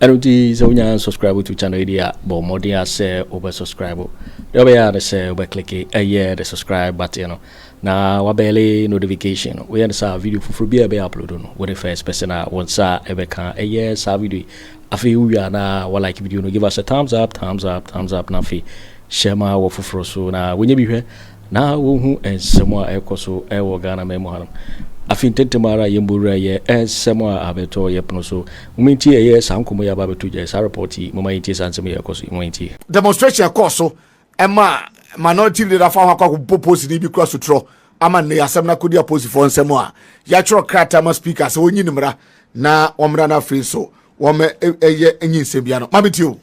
Ɛno nti sɛ wonya unsubscribe to channel yi deɛ a, bɔ mmɔden a sɛ wobɛ subscribe. Deɛ wobɛyɛ a ne sɛ wobɛ click ɛyɛ the subscribe button no na wabɛle notification no. Woyɛ ne saa a, video foforɔ biara ɛbɛyɛ upload no, wo ne first person a wo nsa ɛbɛka ɛyɛ saa video yi. Afei wowie a na wa like video no, give us a thumbs up, thumbs up, thumbs up na afei hyɛ ma wɔ foforɔ so na wɔnyɛ bi hwɛ na wɔhu nsɛm a ɛrekɔ so wɔ Ghanaman mu hanom. Afei ntɛntɛm ara yɛn bɔwura yɛ nsɛm a abɛtɔ yɛ pono so. Momma yɛntie ɛyɛ saa nkɔmmɔ yi a aba abɛto gya, saa report yi. Momma yɛntie saa nsɛm yi a ɛrekɔ so yi. Momma yɛntie. Demonstration a ɛkɔɔ so ma Minority Leader faa ho akɔ akɔbobɔ polisini bi kura sotorɔ ama nnɛ yi asɛm no akɔdi apolisifoɔ nsam a yɛatwerɛ krataa ama Speaker sɛ ɔnyi no mmara na wɔmmra no afei nso wɔmmɛyɛ nyinsɛn biara no. Ma mentie o.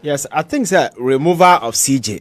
Yes, I think sɛ removal of CJ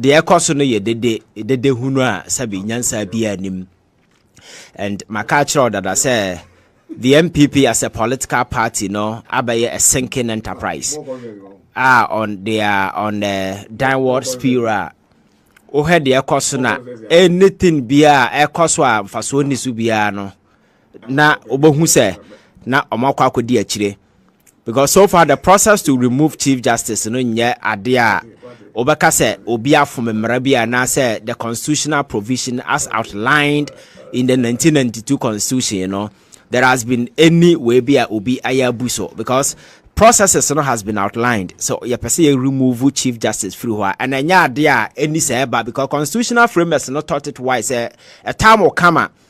deɛ ɛkɔ so no yɛ dede dede hunu a sɛbi nyansa biara nim and maka akyerɛ dada sɛ the NPP as a political party no abɛyɛ a sinking enterprise ah on they are on a downward spiral wohwɛ deɛ ɛkɔ so na anything biara ɛkɔ so a mfasoɔ nni so biara no na wobɛhu sɛ na wɔn akɔ akɔdi akyire because so far the process to remove chief justice no nyɛ adeɛ a wobɛka sɛ obi afom mmara bi anaasɛ the constitutional provision as outlined in the 1992 constitution no there has been any way bi a obi ayɛ abu so because processes no has been outlined so yɛpɛ sɛ yɛ remove chief justice firi hɔ a ɛna ɛnyɛ adeɛ a ɛni sɛ ɛba because constitutional framers no taught it wise sɛ ɛtam kama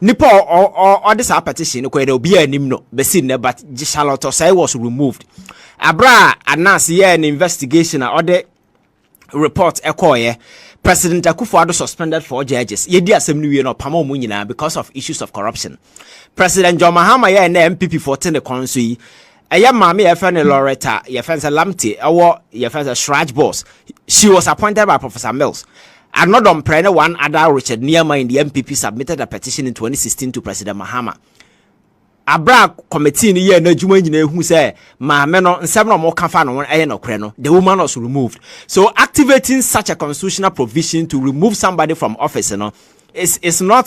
Nipa a ɔde saa petition no kɔɛ dɛ obiara nim no bɛsi nnɛ but Charlotte Osei was removed. Abere a Anas yɛɛ ne investigation a ɔde report ɛkɔɔyɛ President Akufo-Addo suspended four judges. Yɛdi asɛm no wie no ɔpama wɔn nyinaa because of issues of corruption. President John Mahama yɛɛ nnɛ MPP foɔ te ne kɔn so yi Ɛyɛ maame a yɛfrɛ no Loretta, yɛfrɛ no sɛ Lamptey, ɛwɔ yɛfrɛ sɛ Shraj Boss. She was appointed by Professor Mills. Anodom Preh ne one other Richard Niamah in the MPP submitted a petition in 2016 to President Mahama. Abra committee no yɛɛ n'adwuma nyinaa ehu sɛ maame no nsɛm na wɔn ka fa no ho ɛyɛ nɔkorɛ no, the woman was removed. So activating such a constitutional provision to remove somebody from office no is is not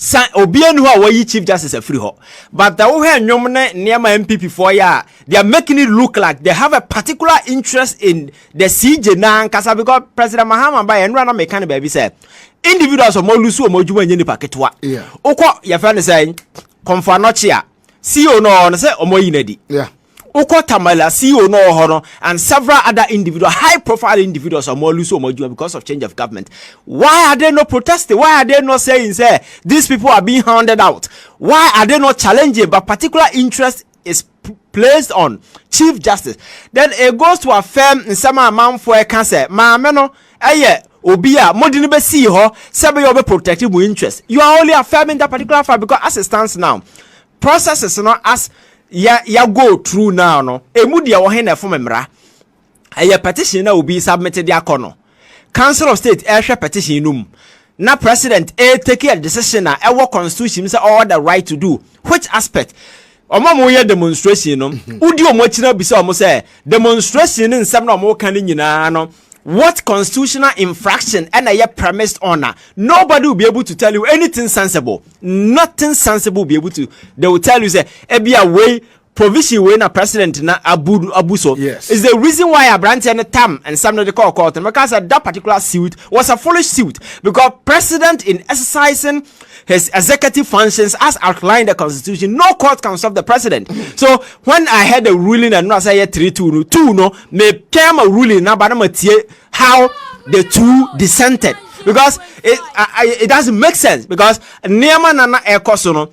Sa obia ni hɔ a wɔyi chief justice afiri hɔ but the wohwɛ nnwom ne nneɛma MPP foɔ yɛ a they are making it look like they have a particular interest in the CJ n'ankasa because President Mahama ba yɛ nnura na meka ne baabi sɛ individuals wɔn lusu wɔn adwuma nyɛ nipa ketewa Yeah. wokɔ yɛfɛ ne sɛ kɔnfɔ anɔkye a CEO no ɔwɔ no sɛ ɔmo ayi no adi. Yeah. Wokɔ Tamale a CEO no ɔwɔ hɔ no and several other individual high profile individuals a ɔmo lose ɔmo adwuma because of change of government. Why are they not protesting? Why are they not saying sɛ these people are being hounded out? Why are they not challenging but particular interest is placed on Chief Justice? Then it goes to affirm nsɛm a amanfoɔ ɛka sɛ maame no yɛ obi a mo de no bɛ sii hɔ sɛ ɛbɛyɛ ɔbɛ protect mo interest you are only affirming that particular fact because as it stands now processes no as ya ya go through now no emu deɛ wɔhe na ɛfom mmara ɛyɛ petition na obi submit de akɔ no council of state ɛhwɛ petition no mu na president e take a decision a ɛwɔ constitution mu sɛ ɔwɔ the right to do which aspect wɔn a wɔyɛ demonstration no mhm. wodi wɔn akyi na bisa wɔn sɛ demonstration ne nsɛm na wɔn ka ne nyinaa no what constitutional infraction and a premised on nobody will be able to tell you anything sensible nothing sensible will be able to they will tell you say ebia way Provision wei na president na abu abu so. Yes. Is the reason why abranteɛ no tam nsɛm no de kɔɔ court no mɛka sɛ that particular suit was a foolish suit because president in exercising his executive functions as outlined the constitution no court can stop the president so when i heard the ruling and no say three two no two no me came a ruling na ba na ma tie how the two dissented because it, I, it doesn't make sense because nneɛma na na ɛkɔ so no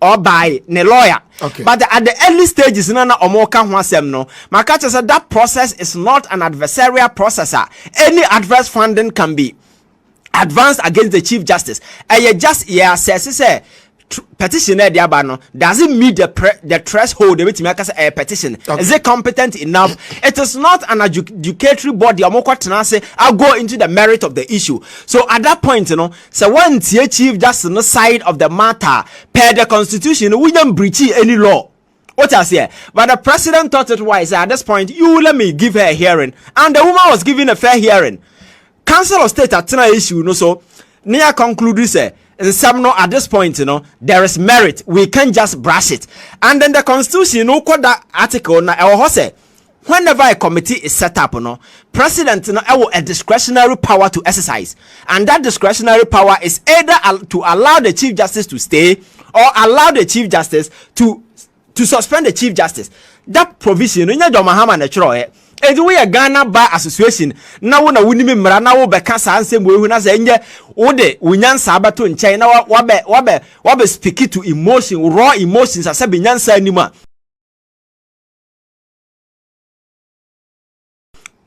ɔbae ne lawyer okay. but at the early stages na na ɔmo ka ho asɛm no maka kyerɛ sɛ that process is not an adversarial process a any adverse funding can be advanced against the chief justice ɛyɛ just yɛ asɛse sɛ petition na ɛde aba no does it meet the pre the threshold ebetumi aka sɛ ɛyɛ petition okay. is it competent enough it is not an adjudicatory body ɔmo kɔ tena ase i go into the merit of the issue so at that point you know Sɛ wantie chief justice no side of the matter a, per the constitution no, wonya mbreachii any law. Wote aseɛ? But the president thought it wise sɛ at this point, you let me give her a hearing. And the woman was given a fair hearing. Council of State atena issue no so ne yɛ conclude sɛ nsɛm no at this point no there is merit we can't just brush it and then the constitution no wokɔ da article na ɛwɔ hɔ sɛ Whenever a committee is set up no, President no wɔ a discretionary power to exercise and that discretionary power is either to allow the Chief Justice to stay or allow the Chief Justice to to suspend the Chief Justice. That provision no nyɛ John Mahama na ɛtwerɛeɛ. Enti woyɛ Ghana Bar Association na wo na wonim mmara na wobɛka saa nsɛm wɔ ehu na sɛ ɛnyɛ wode wo nyansa abɛto nkyɛn na wabɛ wabɛ wabɛ speak to emotion raw emotions asɛ bi nyansa anim a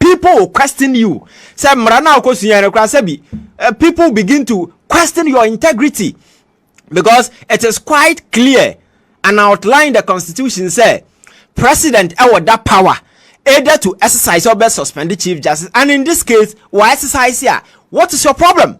people will question you sɛ mmara no a wokɔsua no koraa sɛ bi eh, people begin to question your integrity because it is quite clear and outline the constitution sɛ president ɛwɔ da power either to exercise or best suspend the chief justice and in this case wɔ exercise a what is your problem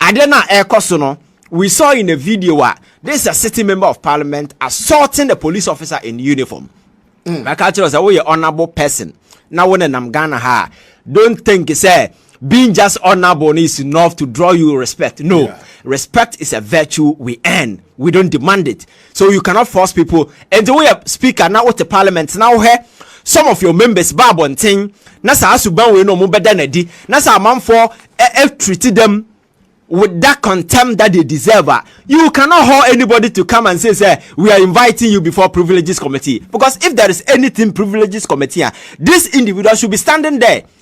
Ade no a ɛrekɔ so no, we saw in a video a this is a sitting member of parliament assaulting a police officer in uniform. Mm. Maka kyerɛ wo sɛ woyɛ honourable person na wo nenam Ghana ha a don't think sɛ being just honorable is enough to draw you respect. No, yeah. respect is a virtue we earn, we don't demand it. So you cannot force people nti woyɛ speaker na wote parliament na wohwɛ some of your members ba abɔnten na saa suban wei no ɔmo bɛda n'adi na saa amanfoɔ ɛtriti dɛm with that contempt that they deserve ah, you cannot hold anybody to come and say sir we are inviting you before privileges committee because if there is anything privileges committee ah, this individual should be standing there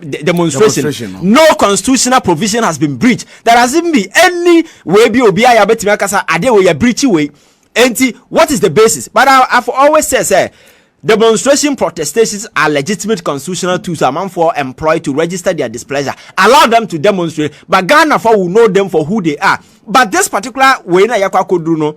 de demonstration, demonstration no. no constitutional provision has been breached there has even be any way bi obi ayɛ abɛtumi akasa adeɛ wɔ yɛ breach wei nti what is the basis but I, I've always said sɛ demonstration protestations are legitimate constitutional tools amanfoɔ employ to register their displeasure allow them to demonstrate but Ghana for will know them for who they are but this particular way na yɛkɔ akɔduru no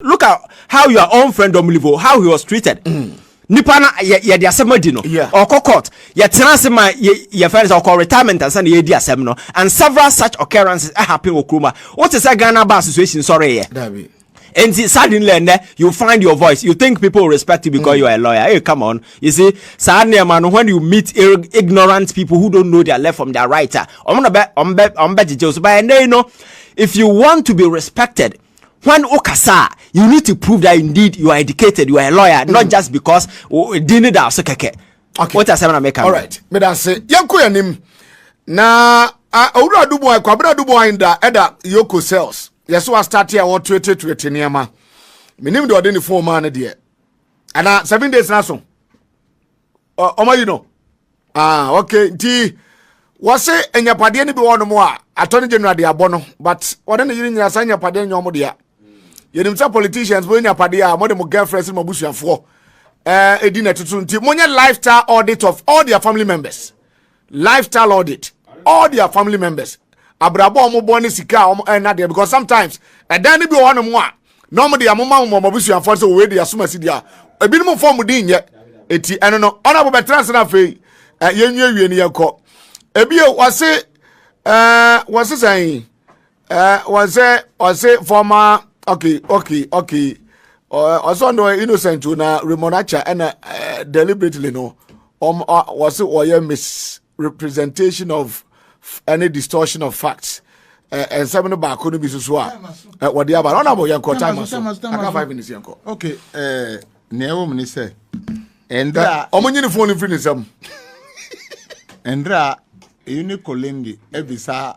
look at how your own friend Domlivo how he was treated. Mm. nipa na yɛde asɛm adi no ɔkɔ court yɛtena ase ma yɛfrɛ no sɛ ɔkɔ retirement ansa na yɛdi asɛm no and several such occurrences happen wɔ kuroma wote sɛ ghana bar association sɔreyɛ And suddenly and then you find your voice. You think people respect you because mm. you are a lawyer. Hey, come on. You see, suddenly, man, when you meet ignorant people who don't know their left from their right, ah, I'm gonna bet, I'm bet, I'm bet, so by and you know, if you want to be respected, When wo kasa a, you need to prove that indeed you are educated, you are a lawyer, mm. not just because din ne da so kɛkɛ. Okay. What asɛm na meka? All right. Me da se yɛnkɔ yɛnim. Na owura dubu a kwabena dubu a nda ɛda yoko cells. Yɛso wa start a wɔtuetuetuete nneɛma. Menim de ɔde ne phone maa ne deɛ. Ana seven days na so. ɔma yi no ah ok nti wɔse anyapadeɛ no bi wɔ nom a atɔ no general de abɔ no but wɔne ne yere nyina saa anyapadeɛ nyɛ ɔmo dea yɛnim sɛ politicians mo anyapadeɛ a mode mo girlfriends ne mo abusuafoɔ ɛdi na ɛtoto nti monyɛ lifestyle audit of all their family members Lifestyle audit all their family members abrabɔ a wɔbɔ ne sika a wɔn ɛna deɛ because sometimes ɛdan no bi wɔ hɔ nom a na wɔn deɛ wɔn ma wɔn abusuafoɔ sɛ wɔwɔ deɛ asoma si deɛ ebinom nfa wɔn din nyɛ eti ɛno no ɔna bɔ bɛtena ase na afei yɛn nwie wie ne yɛn kɔ ebi wɔse ɛɛ wɔse sɛn. Uh, one say, one say former. Okay, okay, okay. Uh, also no innocent to na Ramonacha and uh, uh, deliberately no. Um, uh, was it or yeah misrepresentation of any distortion of facts. Uh, and seven no baako no bi soso a uh, wɔde aba na ɔnabɔ yɛn kɔ time so aka five minutes yɛn kɔ. okay uh, nea ɛwɔ mu ni sɛ ɛnda. ɔmo nyini fone firi ne nsam. ɛnda eyi ne kolindi ebisa.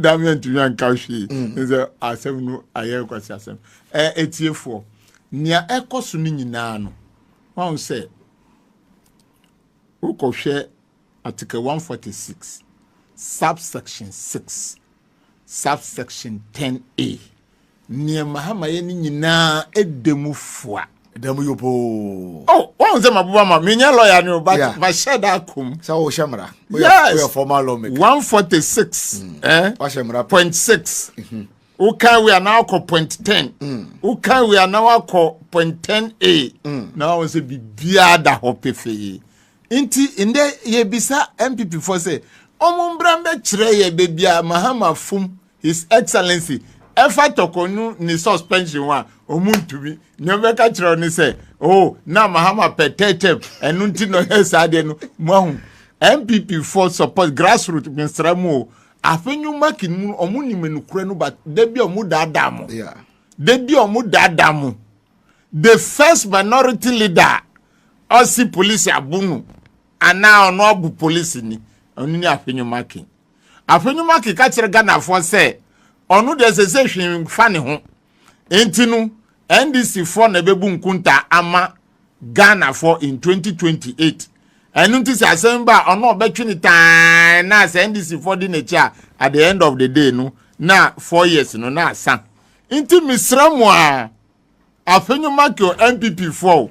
dame antumi anka hwee mm. ne sɛ asɛm no ayɛ nkwasi asɛm ɛtiefoɔ nea ɛkɔ so no nyinaa no wahu sɛ wokɔhwɛ article 146 subsection 6 subsection 10a Nea Mahama yɛ ne nyinaa ɛda mu fua. Ɛda mu yopoo. Oh, wɔn sɛ maboba ma menyɛ lɔya ne o, but yeah. mahyɛ da akom. Sɛ wɔhyɛ mmara. Yes. Woyɛ formal lawmaker. 146 mm. eh? wahyɛ mmara point six. Mm-hmm. wokan wei anaa wakɔ point ten mm. wokan wei anaa wakɔ point ten a mm. na wɔn sɛ biribiara da hɔ pefee nti ndɛ yɛbisa npp fɔ sɛ wɔn mbra mbɛkyerɛ yɛ baabi a mahama fom His Excellency, ɛfa tɔkɔ no ne suspension ho a, ɔmo ntumi. Nea ɔbɛka kyerɛ ne sɛ, oh, na Mahama pɛ third term, ɛno nti na ɔyɛ saa deɛ no, mo ahu. NPP for support grassroots mesra mu o. Afe no mark no mu ɔmo nim nokorɛ no but da bi ɔmo daadaa mo. Da bi ɔmo daadaa mo. The first minority leader ɔsi polisi abo no anaa ɔno abo polisi ni ɔno ni afe no marking. Afei no Macky ka kyerɛ Ghanafoɔ sɛ ɔno deɛ ɛsɛ sɛ hwee mfa ne ho. Enti no NDC foɔ na ɛbɛbu nkuntaa ama Ghanafoɔ in 2028. Ɛno nti sɛ asɛm ba a ɔno ɔbɛtwe ne taa na sɛ NDC foɔ di n'akyi a at the end of the day no na four years no na asa. Nti mesrɛ mo a afei no Macky o NPP foɔ o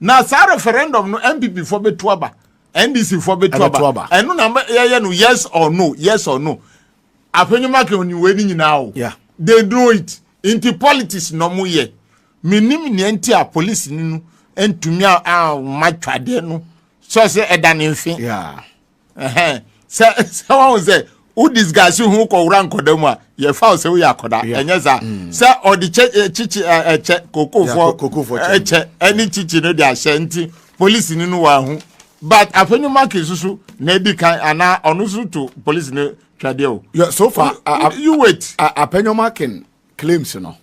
na saa referendum no npp foɔ bɛtu aba ndc foɔ bɛtu aba ɛno na yɛyɛ no yes or no yes or no afenyoma kan ni wei ni nyinaa o they know it nti politics na ɔmo yɛ menim nea nti a polisi ni no ntumi a ma twadeɛ no sɛ sɛ ɛda ne mfe ɛhɛn sɛ sɛ wɔn sɛ wo disguise ho kɔwura nkɔda mu a yɛfa wo sɛ woyɛ akɔda ɛnyɛ saa mm. sɛ ɔde kyɛ eh, kyikyi eh, ɛkyɛ kokofoɔ ɛkyɛ eh, ɛne kyikyi no de ahyɛ nti polisi no no wɔahu but afɛnyi maki soso na edi kan anaa ɔno nso to polisi no twɛdeɛ o. so far you wait. apɛnyɔmakin claims no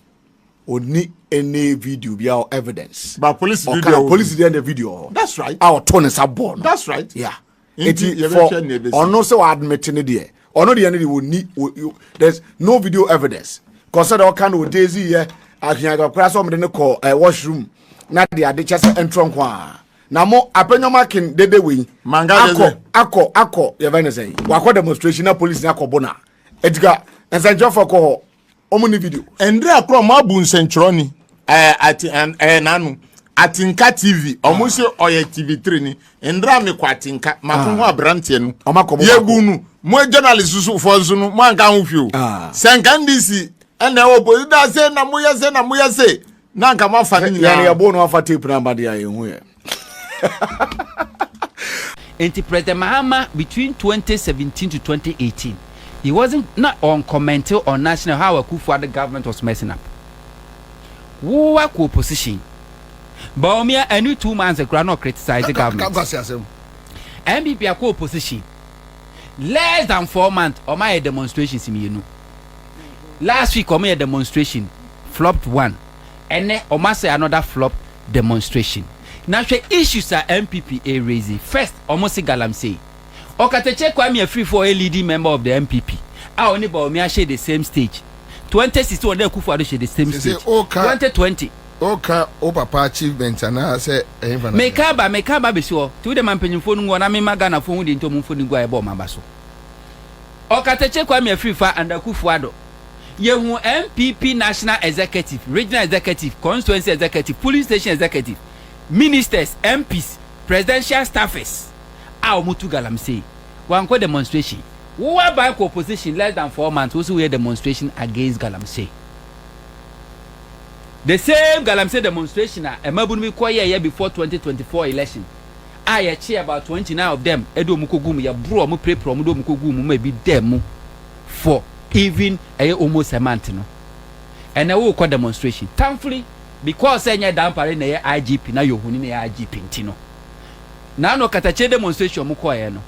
ɔni any video bi a evidence. ba police video ɔka police deɛ na video hɔ. that's right a ɔto ne nsa bɔɔ no. that's right yeah. nti for ɔno sɛ ɔadmit ne deɛ ɔno deɛ ne deɛ ɔni there's no video evidence kɔsɛ dɛ ɔka no ɔde zi yɛ ahiaga koraa sɛ ɔmde ne kɔ eh, washroom na de ade kyɛ sɛ ɛntrɔ nko a na mo apɛnyɔma ken dede wei akɔ akɔ akɔ yɛfɛ ne sɛ wakɔ demonstration na police ne akɔ bona Edgar, nsɛnkyerɛfoɔ kɔ hɔ. Wɔn ni video. Ndra korɔ mo abu nsɛnkyerɛni. Ɛɛ eh, ati ɛɛ eh, eh, nanu. Atinka TV. Wɔn ah. sɛ ɔyɛ TV three ni. Ndra mi kɔ atinka. Ma ko ah. ho aberanteɛ no. Wɔn akɔ mo baako. Yebu nu. Mo journalist soso fɔ nso no. Mo anka ho fi o. Ah. Sɛnka ndc. Ɛna ɛwɔ polisi da se na mo yɛ se na mo yɛ se. Na anka mo afa ne nyinaa. Yɛn yɛ bo no afa tape na abade a yɛn ho yɛ. Enti President Mahama between twenty seventeen to twenty eighteen he wasn't na ɔncommente on national how Akuffo Addo government was messing up. Wo akɔ opposition. Bawumia ɛne two months koraa na ɔcriticize government. NPP akɔ opposition less than four months ɔmo ayɛ demonstrations mmienu. Last week ɔmo yɛ demonstration flopped one. Ɛnɛ ɔmo asɛ another flop demonstration. Na hwɛ issues a NPP e raise. First ɔmo se Galamsey. Ɔkatakyie Kwame Afrifo a ɔyɛ leading member of the NPP a ɔne Bawumia hyɛ the same stage twenty sixteen ɔne Akufo Addo hyɛ the same Sese stage wo ka twenty twenty. wo ka wo papa achievement anaa sɛ ɛhefa na Me ka aba me ka aba abesi hɔ nti wo deɛ ma mpanyinfoɔ no nguɔ na me ma Ghanafoɔ hu deɛ nti ɔmo nfoni gu a ɛbɔ ɔmo aba so. Ɔkatakyie Kwame Afrifa and Akufo Addo. Yehu NPP National Executive, Regional Executive, Constituency Executive, Polling Station Executive, Ministers, MPs, Presidential Staffers a wɔtu galamsey. Wɔankɔ demonstration. Wo aban kɔ opposition less than four months, wo se woyɛ demonstration against galamsey. The same galamsey demonstration a mmabunu bi kɔ yɛɛyɛ before 2024 election a yɛkye about 29 of them de wɔn kɔgu mu, yɛboro wɔn, pirapira wɔn de wɔn kɔgu mu ma ebi da mu. for even ɛyɛ almost a month no ɛnɛ wokɔ demonstration thankfully because sɛ ɛnyɛ dampare na ɛyɛ igp na yɛhuni na ɛyɛ igp nti no na ano katakyire demonstration ɔmo kɔɛ no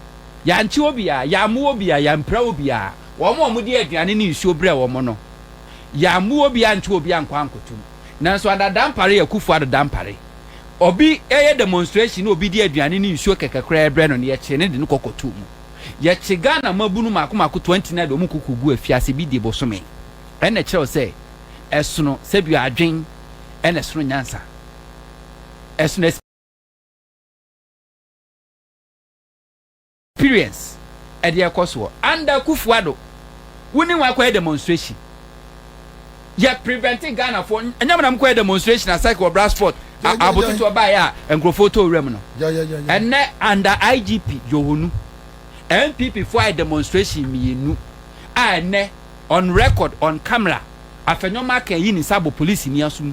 yɛankye obiara yɛammo obiara yɛampira obiara wɔn a wɔde aduane ne nsuo brɛ wɔn no yɛammo obiara nto obiara nkɔ ankotom nanso ada dampare akufo ado dampare obi ɛyɛ demonstration na obi de aduane ne nsuo kɛkɛ koraa brɛ no no yɛkyere ne de no kɔkɔto mu. Yɛkye Ghana mmabunu mako mako 20 na yɛde wɔn koko gu afiase bi die bosome. Ɛno na ɛkyerɛw sɛ ɛsono sɛdua adwen ɛna ɛsono nyansa. Ɛsono experience ɛde ɛkɔ soɔ. Under Kufuor-Addo, wo ne wɔn akɔyɛ demonstration. Yɛ prevente Ghana foɔ ɛnyɛ mo na mo kɔ yɛ demonstration asake wɔ Brasfort abototoɔ baeɛ a nkurɔfoɔ tɔ wura mu no ɛnɛ under IGP Johonu NPP foɔ ayɛ demonstration mmienu a ɛnɛ on record on camera Afenyo Mark ayi ne nsa abɔ police ni aso mu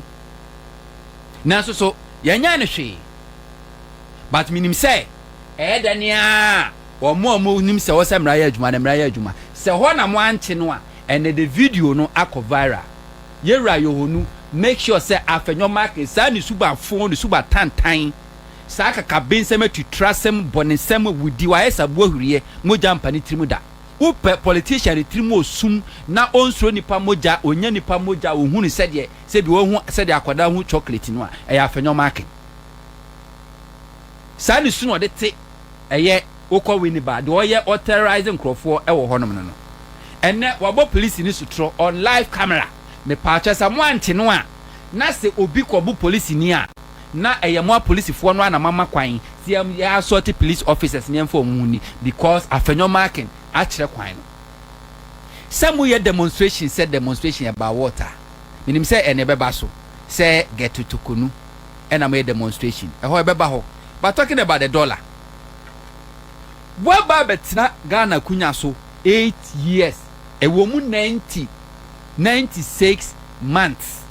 nanso so yɛnyɛ ne hwee but menim sɛ ɛyɛ dɛ ne a wɔn a wɔnim sɛ wɔsɛ mmara yɛ adwuma no mmara yɛ adwuma sɛ hɔ na mo ankye no a Ɛnɛ de video no akɔ viral. Yewura Yohonu make sure sɛ afɛnyɔ make saa ne suba fon ne suba tantan, saa kakabensɛm atutrasɛm, bɔnesɛm, awudi, wayɛ saa boahwiriɛ, mogya mpa ne tirim da. Wopɛ politician ne tirim osum na onsuro nipa mogya, onnya nipa mogya, onhunu sɛdeɛ sɛ bi wahu sɛdeɛ akwadaa hu chocolate no a ɛyɛ afɛnyɔ make. Saa ne su na ɔde te ɛyɛ wokɔ Winneba deɛ ɔyɛ ɔ terrorise nkorɔfoɔ wɔ hɔnom no no ɛnɛ wabɔ polisini sotorɔ on live camera mepaakyɛw sa moante no a na sɛ obi kɔbo polisini a na ɛyɛ moa polisifoɔ no a na moama kwan sɛ yɛ yɛ assault police officers no yɛmfa wɔn ho nni because afanyɔ marking akyerɛ kwan no sɛ moyɛ demonstration sɛ demonstration about what a menim sɛ ɛnɛ ɛbɛba so sɛ Gɛto Tokonu. ɛna moyɛ demonstration ɛhɔ ɛbɛba hɔ but talking about the dollar woaba abɛtena Ghana akunya so eight years ɛwɔ mu ninety ninety six months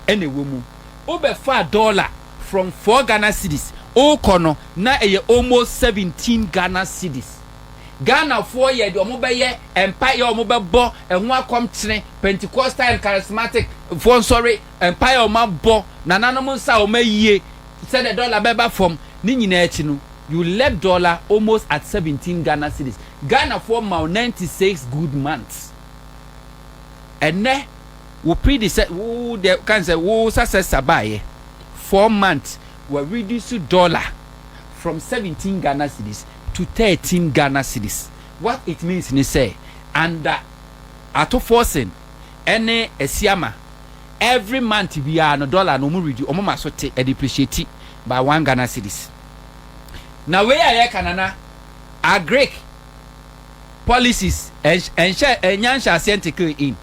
ɛna ɛwɔ mu wobɛfaa dollar from four Ghana cedis wokɔ no na ɛyɛ almost seventeen Ghana cedis Ghanafoɔ yɛ deɛ wɔn bɛyɛ mpaeɛ wɔn bɛbɔ ɛho akɔmkyene Pentecostal and charismatic foɔ nsɔre Mpae a wɔabɔ, nananom nsa a wɔayie sɛdeɛ dɔla bɛba fam, ne nyinaa akyi no, you left dɔla almost at seventeen Ghana cedis. Ghanafoɔ ma wo ninety six good months. Ɛnnɛ, wo predecessor, wo deɛ ka no sɛ, wo successor baeɛ, four months, wa reduce dɔla from seventeen Ghana cedis to thirteen Ghana cedis. What it means ne sɛ, under Ato Forson, ɛne asiama every month biara no dollar no ɔmo redi ɔmo ma so te ɛde preciate by one Ghana cedis na wei a yɛka nana agric policies ɛnhyɛ ɛnya nhyɛ aseɛ ntekee in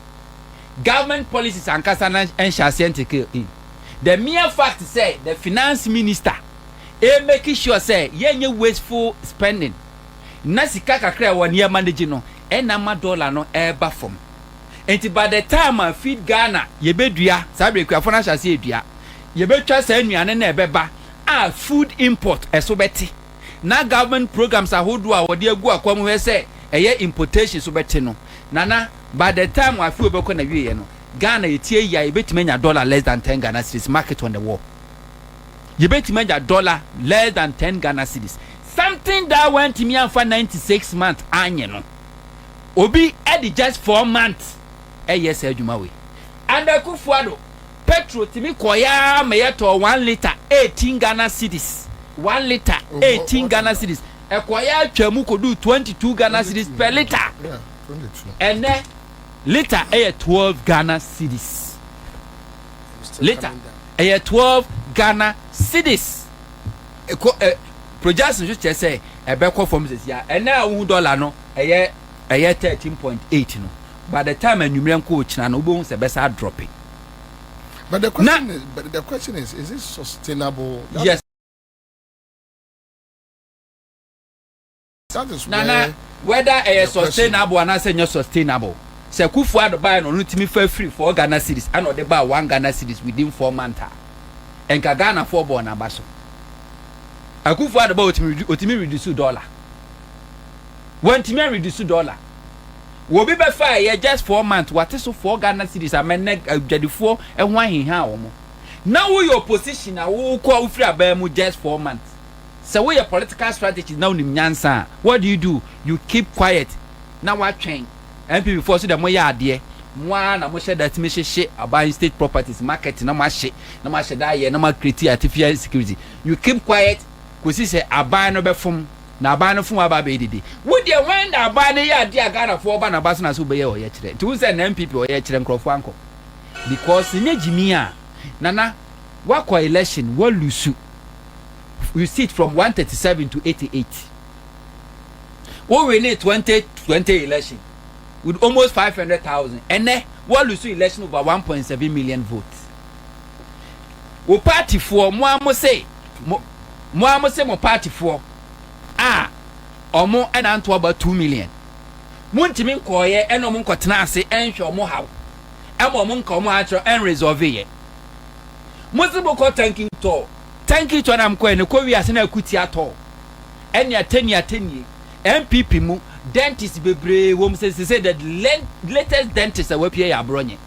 government policies ankasa na ɛnhyɛ aseɛ ntekee in the mere fact sɛ the finance minister ɛmɛki sure sɛ yɛnyɛ wasteful spending na sika kakra a ɛwɔ ne yɛma no gye no ɛna ama dollar no ɛreba fam nti by the time a feed Ghana yɛbɛdua saa berɛ akuafoɔ no ahyɛ aseɛ redua yɛbɛtwa saa nnuane no a ɛbɛba a food import ɛso bɛte na government programs ahodoɔ a wɔde agu akwan mu hwɛ sɛ ɛyɛ importation so bɛte no Nana by the time afe a ɔbɛkɔ na wieɛ no Ghana ɛti ayi a yɛbɛtumi anya dollar less than 10 Ghana cedis mark it on the wall. Yɛbɛtumi agya dɔla less than ten Ghana cedis, something that wantumi amfa ninety six months anyɛ no, obi de just four months ɛyɛ saa adwuma wei. Under Akuffo Addo, petrol tumi kɔeɛ ara ma yɛtɔɔ one litre eighteen Ghana cedis, one litre eighteen Ghana cedis, ɛkɔeɛ ara twaa mu kɔduu twenty two Ghana cedis per litre ɛnnɛ. Lita yɛ twelve Ghana cedis. Lita yɛ twelve Ghana cedis. Ɛkɔ ɛ projections nso kyerɛ sɛ ɛbɛkɔ fam sisi a ɛnɛ a wohu dɔla no ɛyɛ ɛyɛ thirteen point eight no by the time anwummerɛ nko okyina no wobɛhu sɛ ɛbɛsa adrɔpe. But the question na, is, but the question is, is it sustainable? That yes. Na na whether ɛyɛ sustainable anaasɛ ɛnyɛ sustainable. Sɛ Kuffo Addo baeɛ no ɔno tumi fa firi four Ghana cedis ɛna ɔde baa one Ghana cedis within four month a, nka Ghanafoɔ bɔ wɔn aba so. Akuffo Addo baeɛ ɔtumi redu ɔtumi reduce dollar. Wantumi an reduce dollar. Obi bɛfaeɛ just four month wate so four Ghana cedis ama nnɛ adwadifoɔ ho ahinha wɔn. Na woyɛ opposition a wokɔ wofiri aban mu just four month. Sɛ woyɛ political strategist na wonim nyansa a, what do you do? You keep quiet na woatwɛn. NPP foɔ nso deɛ moyɛ adeɛ. Mo ara na mohyɛ da tumi hyehye aban state properties, market na moahye na moahyɛ da ayɛ na mo acreate artificial insecurity. You keep quiet kɔsi sɛ aban no bɛfom na aban no fom a aba abɛyɛ dede. Wo deɛ when na aban no yɛ adeɛ a Ghana foɔ ba na ba so na sɛ wobɛyɛ ɔyɛkyerɛ. Nti wohu sɛ nna NPP ɔyɛkyerɛ nkorɔfoɔ ankɔ because nyɛ gyimii a Nana woakɔ election woalusu. receipt from one thirty seven to eighty eight wo wini twenty twenty election with almost five hundred thousand ɛnɛ wo alusu election over one point seven million votes wo party foɔ mo a mo se mo mo a mo se mo party foɔ a ɔmo ɛna nto aba two million mo ntumi nkɔɔyɛ ɛna ɔmo nkɔtena ase ɛnhwɛ ɔmo haw ɛma ɔmo nka ɔmo akyerɛ ɛnresolve yɛ. Modze mo kɔ tanky tɔɔ, tanky tɔɔ na mokɔɛ no kɔ wiase na akutia tɔɔ ɛne atanie atanie. NPP mu dentist bebree wɔ mu sɛ sesei the latest dentist a wapue yɛ aborɔnye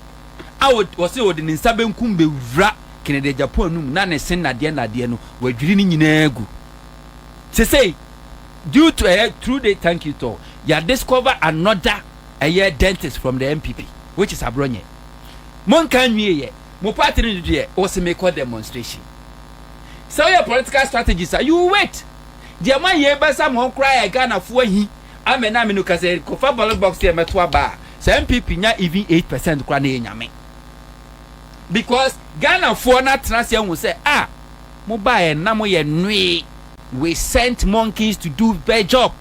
a wɔse ɔde ne nsa benkum bewura Kennedy Agyapong anum na ne se nnadeɛ nnadeɛ no wadwiri ne nyinaa agu sesei due to ɛyɛ through the tanky tɔɔ yɛ discover another ɛyɛ dentist from the NPP which is aborɔnye. Monka nwie yɛ mo party no deɛ wose mekɔ demonstration sɛ woyɛ political strategist a you wait deɛ moayɛ bɛsa mo koraa yɛ Ghanafoɔ ahi amɛ na amɛ no ka sɛ kɔfa ballot box yɛ mɛto aba a sɛ NPP nya even 8% koraa na yɛ nyame because Ghanafoɔ no atena se ahu sɛ ah mo baeɛ na moyɛ nwee we sent monkeys to do their job.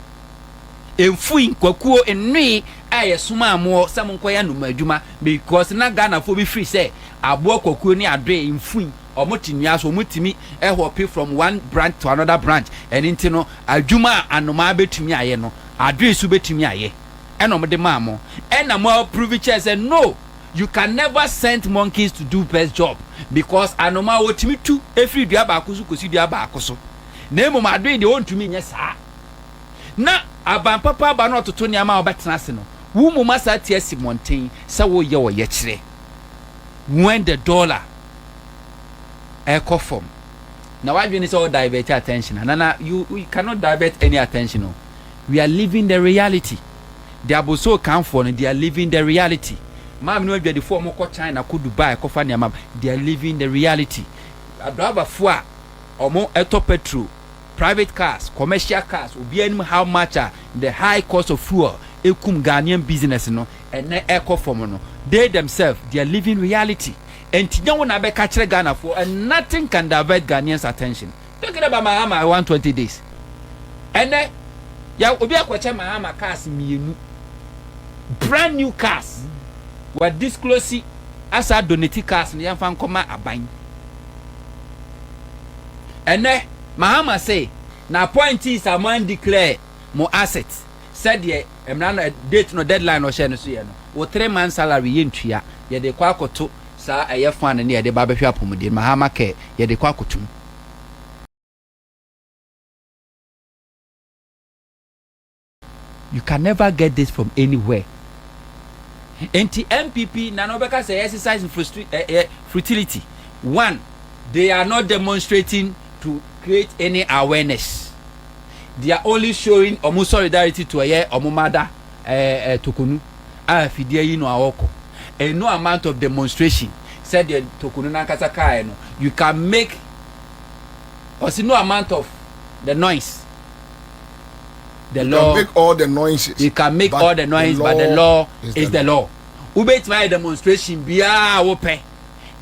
mfui, kwakuo, nnoe a yɛsomaa moɔ sɛ monkɔyɛ anoma adwuma because na Ghanafoɔ bi firi sɛ aboa kwakuo ne adoe, mfui, wɔn te nnua so, wɔn tumi hope from one branch to another branch, ɛno nti no adwuma a anomaa bɛtumi ayɛ no adoe nso bɛtumi ayɛ ɛna wɔn de maa mo ɛna mo approve kyɛɛ sɛ no you can never send monkeys to do best job because anomaa wɔtumi tu ɛfiri dua baako so kɔsi dua baako so na mmom adoe deɛ wɔntumi nyɛ saa. na aban papa aba na ɔtoto nneɛma a wɔbɛtena ase no, wo mmom asan ate asi mmɔnten sɛ woreyɛ ɔyɛkyerɛ. When the dollar ɛkɔ fam na w'adwene ne sɛ wo divert attention a, nana, you, you cannot divert any attention o. We are living the reality. The Abossey Kanfoɔ no, they are living the reality. Maame no adwadifoɔ a wɔkɔ China, kɔ Dubai kɔfa nneɛma ba, they are living the reality. Adriverfoɔ a wɔtɔ petrol, Private cars, commercial cars, obiara nim how much a the high cost of fuel ɛkum Ghanaian business no ɛnɛ ɛkɔ fam no, they themselves they are living reality ɛnti nyɛ wo na bɛka kyerɛ Ghanafoɔ and nothing can divert Ghanaians attention talking about Mahama 120 days ɛnɛ ya obi akɔkyɛ Mahama cars mmienu brand new cars wa disclose asa donate cars no yɛmfa nkɔma aban Ɛnnɛ, Mahama se n'appointees a moan declare mo assets sɛdeɛ mmara no, date no, deadline no ɔhyɛɛ no so yɛ no, wo three months salary yɛntua, yɛde rekɔ akɔto saa ɛyɛ fund no a yɛde ba abɛhwɛ apomuden, Mahama care, yɛde rekɔ akɔto mu. You can never get this from anywhere. Enti NPP na na wɔbɛka sɛ exercise in frustri- eh, eh, futility. One, they are not demonstrating to create any awareness. They are only showing wɔn solidarity to ɛyɛ wɔn mada eh, eh, tokonu a fidie yi no a ɔkɔ. And no amount of demonstration sɛdeɛ tokonu n'ankasa kaeɛ no you can make ɔsi no amount of the noise The law. You can make all the noises. You can make all the noise, but the law is the law. Wobɛtumi ayɛ demonstration biara wopɛ.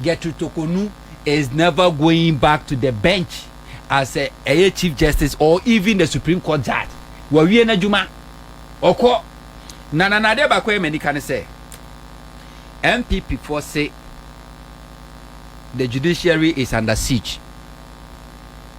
Gertrude Tokonu is never going back to the bench as a ɛyɛ chief justice or even the supreme court judge. Wawie n'adwuma. Ɔkɔ. Na na n'adeɛ baako yɛ m'anika ne sɛ NPP foɔ se the judiciary is under siege.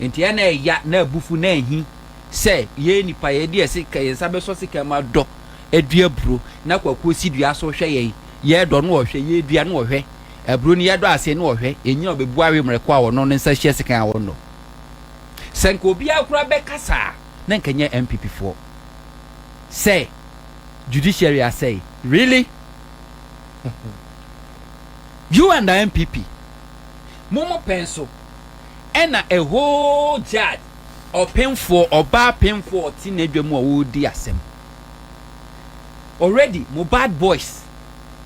Enti ɛna ɛya na abufu na ahi sɛ yɛn nnipa yɛde yɛn sika yɛn nsa bɛsɔ sika mu adɔ adua aburo na kwakuo si dua so hwɛ yɛn yɛdɔ no ɔhwɛ yɛdua no ɔhwɛ aburo no yɛdɔ ase no ɔhwɛ ɛnyina ɔbɛbu awe mmerɛkɔ a ɔno ne nsa hyia sika a ɔnnɔ sɛ nka obiara koraa bɛka saa na nka nyɛ MPP foɔ sɛ judiciary asɛe really you and the MPP mo mo pɛn so Ɛna a whole gyad ɔpemfoɔ ɔbaa pemfoɔ ɔte n'adwa mu a ɔredi asɛm already mo bad boys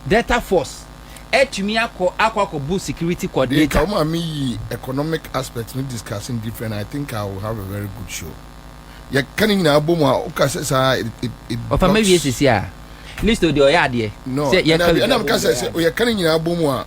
delta force atumi akɔ akɔ akɔ bo security coordinator. Nka woma me yi economic aspect no discussing different I think I will have a very good show yɛ ka ne nyinaa bɔ mu a wo ka sɛ saa it it it blocks. Ɔfa ma wie sisi a listo deɛ ɔyɛ adeɛ sɛ yɛ ka no nyinaa bɔ mu a. No ɛna ɛna me ka sɛ sɛ ɔyɛ ka ne nyinaa bɔ mu a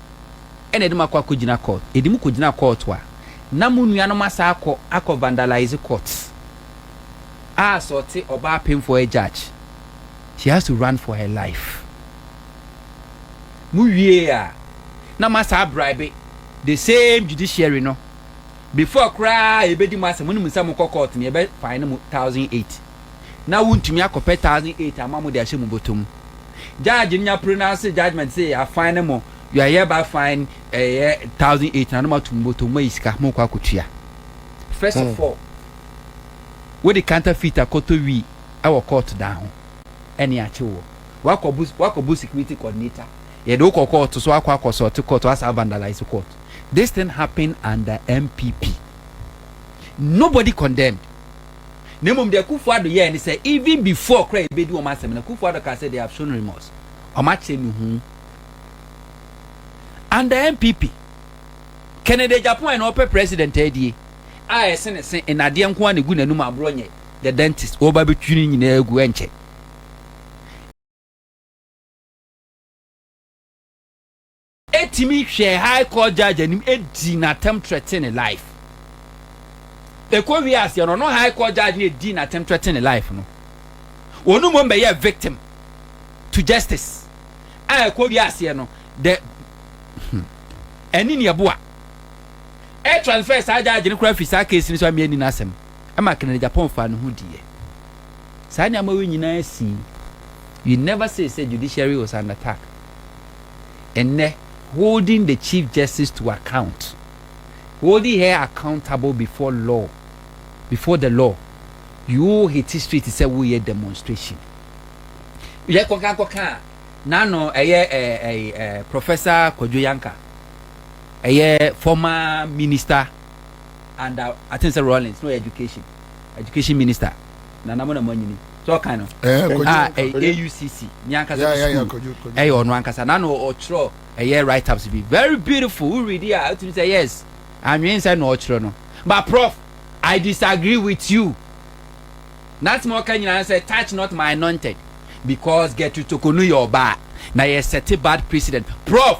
ɛna ɛde mo akɔ akɔgyina court ɛde mo kɔgyina court a na mo nuanom asa akɔ akɔ vandalize court a sɛ ɔte ɔbaa penfoɔ yɛ judge she has to run for her life mo wie a na mo asa abribe the same judiciary no before koraa yɛbɛdi mo asɛ mo ne mo nsa mo kɔ court no yɛbɛ fine mo thousand eight na wontumi akɔpɛ thousand eight ama mo de ahyɛ mo bɔtɔ mu. Judge no nya pronounce judgement se ya fine mo, you are hereby fine ɛyɛ thousand eight na no mato mo bɔtɔ mu, moayi sika, mo rekɔ akɔtua. First of all, wode counterfeit akɔtɔ wii ɛwɔ court dan ho, ɛne akye woɔ. Wakɔ bu wakɔ bu security coordinator, yɛde wo kɔ court so akɔ akɔ sɔɔte court, wasan a vandalize court. This thing happened under NPP. Nobody condemned. Na mmom deɛ Kufuor Addo yɛɛ ne sɛ even before koraa yɛbɛdi wɔn asɛm no, Kufuor Addo kaa sɛ they have shown remorse. Wɔakyerɛ ne hu. Under NPP, Kennedy Agyapong na ɔpɛ president adie a ɛse ne se nnadeɛ nko ara na ɛgu n'anum aborɔ nyɛ the dentist wɔba abɛtwi ne nyinaa agu ɛnkyɛ. Etumi hwɛɛ high court judge anim dii no atɛm threaten ne life. Ɛkɔ wiee aseɛ no ɔno high court judge no a ɛdii no atɛm threaten ne life no ɔno mmom bɛyɛɛ victim to justice a ɛkɔ wiee aseɛ no the hmm ɛne nea ɛboa ɛ transfer saa judge no koraa firi saa case no so amia ni n'asɛm ɛma Kennedy Agyapong faa ne ho diiɛ. Saa nneɛma wei nyinaa sii. You never say sɛ judiciary was under attack. Ɛnnɛ, holding the Chief Justice to account, holding her accountable before law, before the law, yoo hate street sɛ woreyɛ demonstration. Yɛ kɔka kɔka a, n'ano ɛyɛ ɛyi ɛ Professor Kwadwo Yanka, ɛyɛ former minister under, I think sɛ Rawlings, na ɔyɛ education. education minister nana mo na mo anyini sɛ ɔkan no eh, a ah, eh, aucc ne ankasa no school ɛyɛ ɔno ankasa na na ɔtwerɛ ɛyɛ write ups bi very beautiful wo read a wotumi sɛ yes anwene sɛ na ɔtwerɛ no but prof i disagree with you nante ma ɔka nyinaa sɛ touch not my anointed because get to tokonu yɛ ɔbaa na yɛ sɛte bad president prof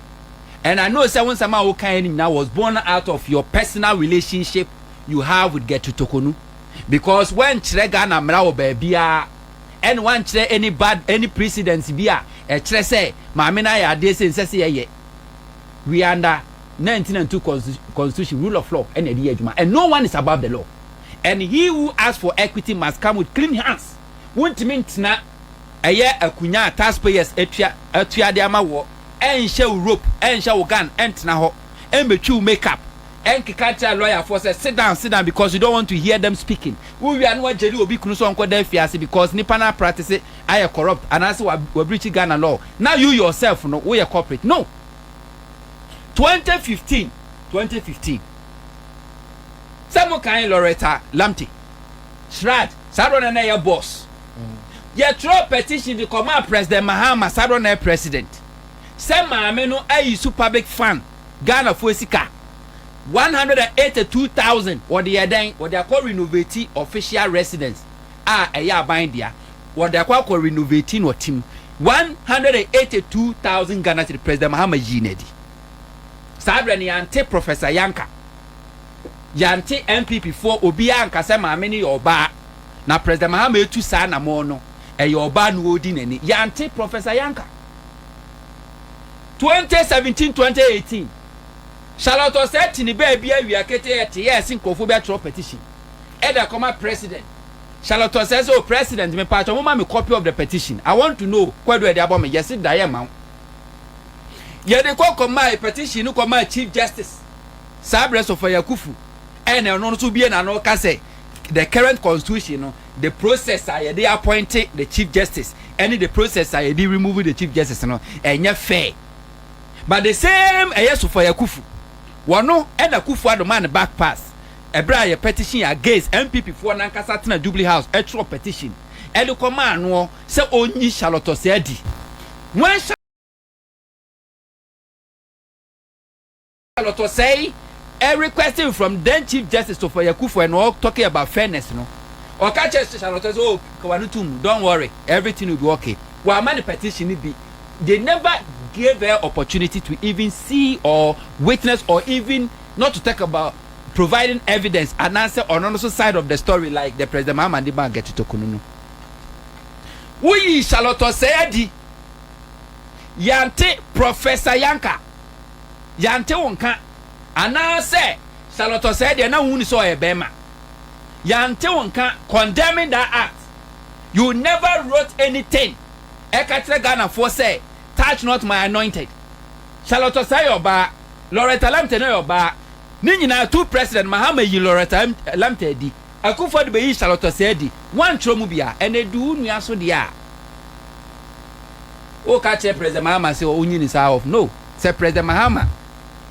and I know sɛ wo nsɛm a wokaeɛ no nyinaa was born out of your personal relationship you have with Gertrude Tokonu because woankyerɛ Ghana mmara wɔ baabiara ɛne woankyerɛ any bad any precedence bi a ɛkyerɛ sɛ maame no ayɛ adeɛ sɛ nsɛ sɛ yɛyɛ we are under 1992 constitu constitution rule of law ɛna ɛde yɛ adwuma and no one is above the law and he who asks for equity must come with clean hands wontumi ntena ɛyɛ akunyaa a taxpayers atua atua de ama woɔ, ɛnhyɛ wo rope, ɛnhyɛ wo gun, ɛntena hɔ, ɛmmɛtwi wo make up, ɛnkeka nkyerɛ lawyer foɔ sɛ sit down, sit down because you don't want to hear them speaking, wo wie a na wagyeli obi kunu sɛ ɔnkɔda afiase because nnipa no apractice ayɛ corrupt anaasɛ wa wa breachi Ghana law na you yourself no woyɛ corporate no! Twenty fifteen Twenty fifteen Sɛ mo kan Loretta Lamte, Shrad, saa doɔ no na ɛyɛ boss. Yɛtwerɛɛ petition de kɔmaa President Mahama, Southern Air President, sɛ maame no ayi su public fund Ghanafoɔ sika one hundred and eighty two thousand wɔde yɛ dɛn? Wɔde akɔ renovate official residence a ɛyɛ aban dea, wɔde akɔ akɔ renovate no ɔtem one hundred and eighty two thousand Ghana cedi President Mahama yii no adi saa berɛ no yɛante Professor Yanka Yɛante NPP foɔ obiara anka sɛ maame no yɛ ɔbaa na President Mahama retu saa anamɔn no, ɛyɛ ɔbaa no ɔredi n'ani. Yɛante Professor Yanka. 2017, 2018, Charlotte Osei te ne baabi awia ketee ɛte yɛ ɛse nkurɔfoɔ bi atwerɛ petition ɛde akɔma President. Charlotte Osei sɛ, oh President, me paatwɔ moma me copy of the petition, I want to know kwadu a ɛde abɔ me, yɛse da yɛmma wo. Yɛde kɔ kɔmae petition no kɔmaa Chief Justice. saa berɛ Sɔfɔ Yakufu ɛna ɔno nso bie n'ano ka sɛ the current constitution no the process a yɛde appointe the chief justice ɛne the process a yɛde remove the chief justice no ɛnyɛ fair but the same ɛyɛ Sɔfɔ Yakufu wɔno ɛna Kufu Ado maa no back pass ɛberɛ a yɛ petition against NPP foɔ nankasa tena Jubilee House ɛtwerɛ petition ɛde kɔ maa noɔ sɛ ɔnyi Charlotte Ossei Adi when Lɔtɔ sɛe ɛ request from then chief justice Sofoye Akufo Addo na ɔ talking about fairness no ɔka kyerɛ Charlotte sɛ oh ka w'ano to mu don't worry everything will be okay w'ama no petition no bi they never gave her opportunity to even see or witness or even not to talk about providing evidence anaasɛ ɔno no so side of the story like the president Mahama de maa Gertrude Tokunu no woyii Charlotte ɔsɛe adi yɛante Professor Yanka yɛante wo nka anaasɛ Charlotte Osei deɛ na wonni sɛ ɔyɛ bɛrima yɛante wo nka condemning that act you never wrote anything ɛka kyerɛ Ghanafoɔ sɛ touch not my anointed Charlotte Osei yɛ ɔbaa Loretta Lamte no yɛ ɔbaa ne nyinaa two president Mahama yi Loretta Lamte adi Akuffo de beyii Charlotte Osei adi. Wɔankyerɛw mu bi a ɛnɛ du wo nua so deɛ a woka kyerɛ President Mahama sɛ onyi ne saa off no. Sɛ President Mahama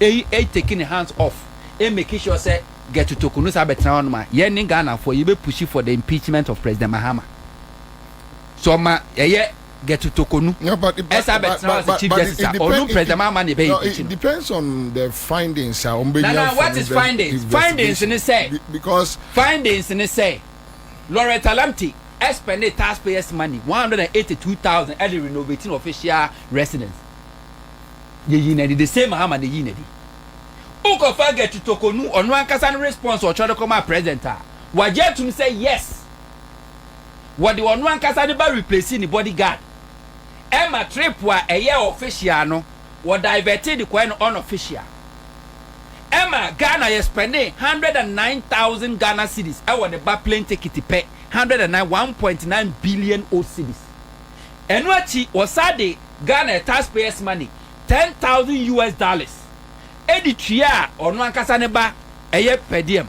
eyi e take ne hands off e make sure sɛ Get Utoko no san bɛtena hɔnom a, yɛne Ghanafoɔ yɛbɛ pushi for the impeachment of President Mahama. Sɛ ɔma ɛyɛ. Gertu Tokonu ɛsan bɛ tena hɔ as a chief justice a ɔno president Mahama na ɛbɛ impeach no. Nana what is findings? Findings ne sɛ findings ne sɛ Loretta Lamte spɛnde tax payers money one hundred and eighty two thousand ɛde renovate no official residence yɛ yii no adi the same Mahama na ɛyii no adi. Wo kɔ fa Gertu Tokonu ɔno ankasa ne response ɔtwerɛ de kɔ maa president a wagye atum sɛ yes. wɔde ɔno ankasa ne ba replace ne body guard ɛma trip a ɛyɛ official no wɔ divert de kɔɛ no unofficial ɛma Ghana yɛ spend hundred and nine thousand Ghana cedis ɛwɔ ne ba plane ticket pɛ hundred and nine one point nine billion o cedis ɛno akyi wɔsa de Ghana taxpayers money ten thousand US dollars ɛde tua ɔno ankasa ne ba ɛyɛ per diem.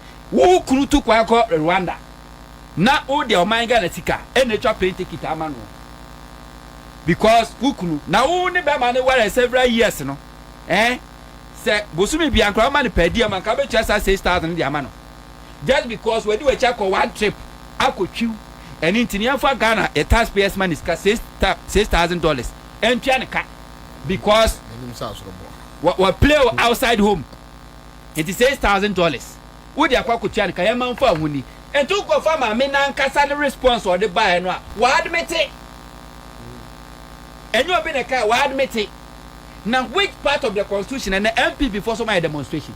Wo kunu tu kwan kɔ Rwanda na wo deɛ ɔman Ghana sika ɛna atwa plane ticket ama no because wo kunu na wo ne bɛma no ware several years no eh sɛ bosome bia nkora woma no per diem anka wobɛtua saa 6000 no de ama no just because wadi wakyi akɔ one trip akɔ twiw ɛne nti no yɛmfa Ghana yɛ tax payers money sika 6000 dollars ɛntua no ka because wa play outside home Enti six thousand dollars wode akɔ akotua no ka yɛn ma nfa ho ni. Enti wo kɔ fa maame nankasa ne response a ɔde baeɛ no a wa admite. Ɛnyɛ obi na ɛkaeɛ wa admite. Na which part of the constitution ɛnɛ NPP foɔ so ɔmayɛ demonstration.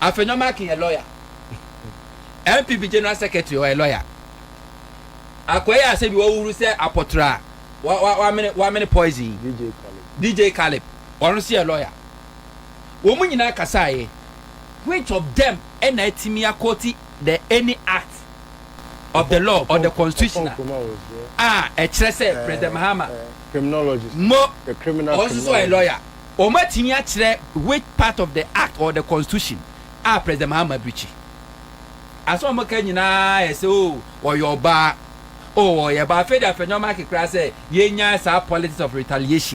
Afenyo Markin yɛ lawyer. NPP general secretary ɔyɛ lawyer. Akɔ yɛ asɛ bi wahuhuru sɛ apɔtɔrɔ a wa wa wamene wamene poison yi. DJ Caleb. DJ Caleb ɔno nso yɛ lawyer. Wɔn nyinaa kasaeɛ. Which of them na atumi akɔɔti the any act of the law or the constitution a ɛkyerɛ sɛ President Mahama, mo, ɔno nso so ɔyɛ lawyer, wɔn atumi akyerɛ which part of the act or the constitution a President Mahama breachi? Asɛm a wɔn ka nyinaa yɛ sɛ oh ɔyɛ ɔbaa, oh ɔyɛ ɔbaa, afei deɛ afɛnyɔma ake koraa sɛ yɛnya saa politics of retaliation.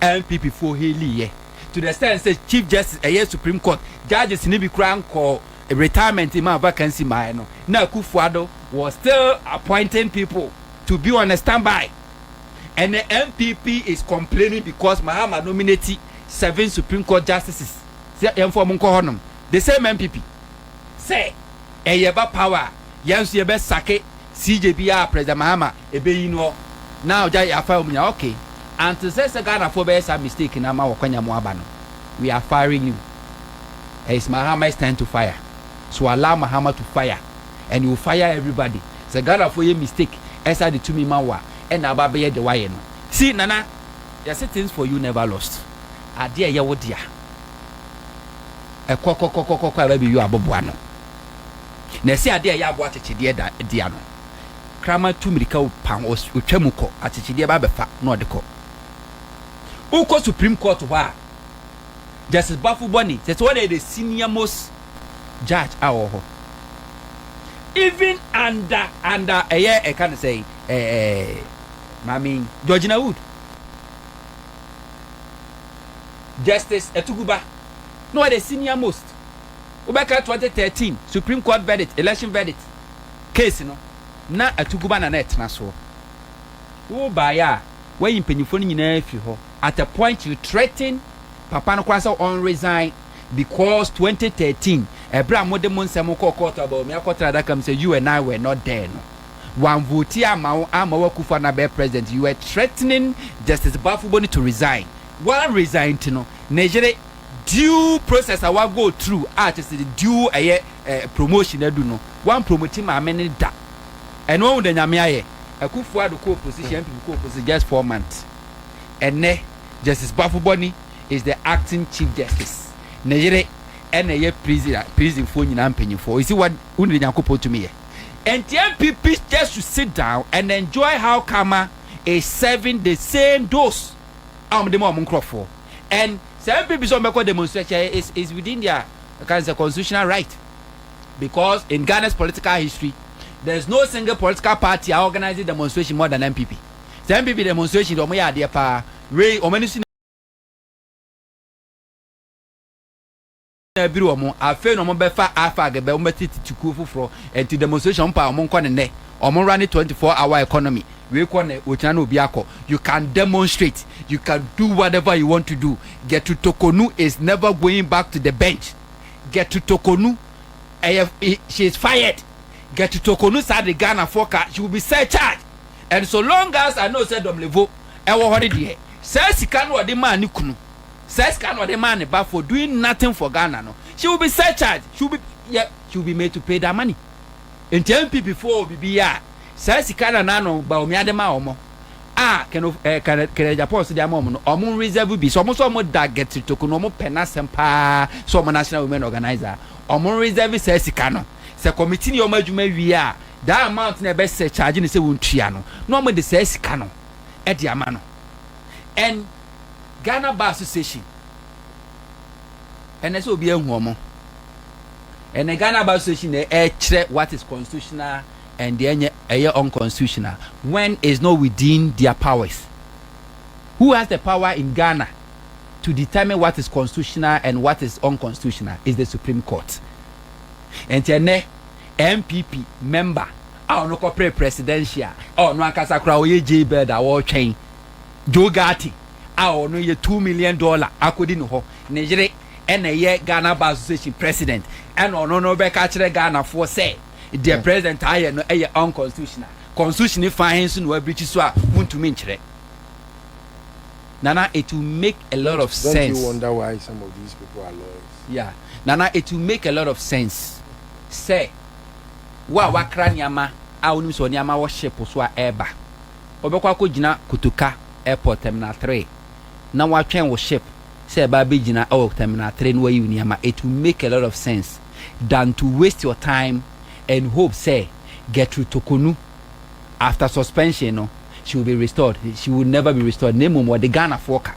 NPP foɔ hailii yɛ to the extent sɛ Chief Justice ɛyɛ Supreme Court judges no bi koraa nkɔɔ retirement mmaa vacancy mmaeɛ no na Akuffo Addo was still appointing people to be on a standby. Ɛnnɛ NPP is complaining because Mahama nominate seven Supreme Court justices sɛ yɛmfa wɔn nkɔ hɔnom. The same NPP sɛ ɛyɛ ba power a yɛn nso yɛbɛ sake CJ biara a President Mahama Ebeyi no hɔ na ɔgya yɛafa wɔn nyinaa ok ante sɛ sɛ Ghanafoɔ bɛyɛ saa mistake no ama wɔakwanya mo aba no we are firing you it's Mahama's time to fire so allow Mahama to fire and he will fire everybody sɛ Ghanafoɔ yɛ mistake ɛsan de tumi ma wo a ɛna aba abɛyɛ deɛ wayɛ no see Nana yɛse things for you never lost adeɛ a ɛyɛ wo dea ɛkɔkɔkɔkɔkɔ a ɛba bɛyi wo aboboa no na ɛse adeɛ a ɛyɛ aboa kyekyedeɛ dea no. Kraman tu mmirika pa, ɔtwa mu kɔ, akyekyedeɛ ba bɛfa na ɔde kɔ. Wokɔ Supreme Court hɔ a, Justice Bafo Bɔni, sɛ sɛ ɔna yɛ the senior most judge a ɔwɔ hɔ. Even under under ɛyɛ ɛka no sɛ ɛɛ maame Georgina Wood, Justice Atuguba, na ɔyɛ the senior most. Wobɛka 2013 Supreme Court verdict, election verdict. case no na atuguba na na ɛtena soɔ. Wo baeɛ a woayi mpanyinfoɔ no nyinaa afiri hɔ at a point you threaten papa no koraa sɛ ɔn resign because twenty thirteen ɛberɛ a mode mo nsɛm kɔɔ court a Bawumia akɔtena adaka mu sɛ you and I were not there no wan vote amma wo amma wo Akuffo Addo abɛyɛ president you were threatening Justice Bafo Boni to resign wan resign nti no ne yere Due process a wa go through a kyerɛ sɛ due ɛyɛ eh promotion adu no wan promote maame no da ɛno wahu dɛ nyame ayɛ Akuffo Addo kɔ opposition NPP kɔ opposition just four months ɛnɛ Justice Boafo Boni is the acting chief justice ne yere ɛna ɛyɛ prison a prison foɔ nyinaa mpanyinfoɔ you see what wohunu dɛ Nyankopɔn tumi yɛ ɛnti NPP just should sit down and enjoy how karma is serving the same those a wɔn de ma wɔn nkorɔfoɔ. and sɛ MP bi sɛ ɔmo bɛkɔ demonstrate kyɛ is is within their ɛka ne sɛ constitutional right because in Ghana's political history there is no single political party a organise demonstration more than NPP sɛ NPP demonstration deɛ ɔmo yɛ adeɛ paa wei ɔmo ani so na abiri wɔn, afei na wɔn bɛfa AFAG bɛ, wɔn bɛte tete kuo foforɔ, ɛnti demonstration wɔn pɛ a wɔn nkɔ ne nnɛ, wɔn run ne 24 hour economy, wei kɔ nnɛ, okyina na obi akɔ, you can demonstrate, you can do whatever you want to do, Getu Tokonu is never going back to the bench, Getu Tokonu ɛyɛ, she is fired, Getu Tokonu saa de Ghana foɔ ka, she will be surcharged, and so long as I know sɛ Domlevo ɛwɔ hɔ ne deɛ, saa sika no ɔde maa ne kunu, saa sika na ɔde maa ne ba for doing nothing for Ghana no, she will be surcharged, she will be yɛ she will be made to pay that money. Nti NPP foɔ wɔ biribi yɛ a, saa sika Nana ano Bawumia de maa wɔn a Keno ɛɛ Kenneth Kenneth Agyapong nso de ama wɔn no, wɔn reserve bi. Sɛ wɔn nso wɔn da Gertrude Toku no, wɔn pɛ n'asɛm paa sɛ wɔn National Women Organiser a, wɔn reserve saa sika no. Sɛ committee no yɛ wɔn adwuma wie a, that amount na ɛbɛ surcharge no sɛ wɔntua no, na wɔn de saa sika no de ama no. And. Ghana Bar Association. Ɛnɛ sɛ obi ahu ɔmo. Ɛnɛ Ghana Bar Association na ɛkyerɛ what is constitutional and deɛ ɛnyɛ ɛyɛ unconstitutional when is not within their powers. Who has the power in Ghana to determine what is constitutional and what is unconstitutional is the Supreme Court. Ɛnti ɛnɛ NPP member a ɔno kɔpere presidential a ɔno ankasa koraa ɔyɛ jailbird a wɔretwɛn Joe Ghartey a ɔno yɛ two million dollar akɔdi ne hɔ, ne yere ɛna ɛyɛ Ghana Bar Association President, ɛna ɔno no bɛka akyerɛ Ghanafoɔ sɛ deɛ President ayɛ no ɛyɛ unconstitutional. Constitution no fã he nso na wabirikyi so a wontumi nkyerɛ. Nana, it will make a lot of sense. Don't you wonder why some of these people are lawyers? Yeah. Nana, it will make a lot of sense sɛ wo a woakra nneɛma a wonim sɛ nneɛma wɔ ship so a ɛreba wɔbɛkɔ akɔgyina Kotoka airport terminal three na wɔatwɛn wo ship sɛ ɛba abɛgyina wɔ terminal three na wɔayi wo nneɛma it will make a lot of sense than to waste your time and hope sɛ Gertrude Tokonu after suspension no she will be restored she will never be restored na mmom wɔde Ghanafoɔ ka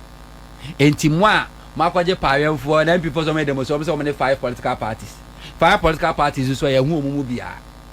enti mo a moakɔgye paawɛnfoɔ na MP foɔ sɛ wɔyɛ demonstration wɔn sɛ wɔn ne five political parties five political parties nso a yɛho wɔn mu biara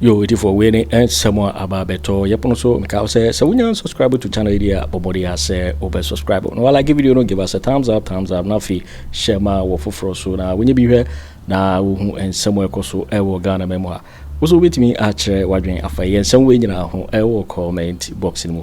Yo atifoɔ wei ne nsɛm a aba abɛtɔ yɛ pono so mekaa wo sɛ sɛ wonya subscribe to channel yi deɛ a bɔbɔde a sɛ wobɛ subscribe na walike video no give us a thumbs up thumbs up na afei hyɛ ma wɔ foforɔ so na wonyɛ bi hwɛ na wohu nsɛm a ɛkɔ so ɛwɔ Ghana ma mu ha wo so wobɛtumi akyerɛ wadwen afa yɛ nsɛm wei nyinaa ho ɛwɔ comment box no mu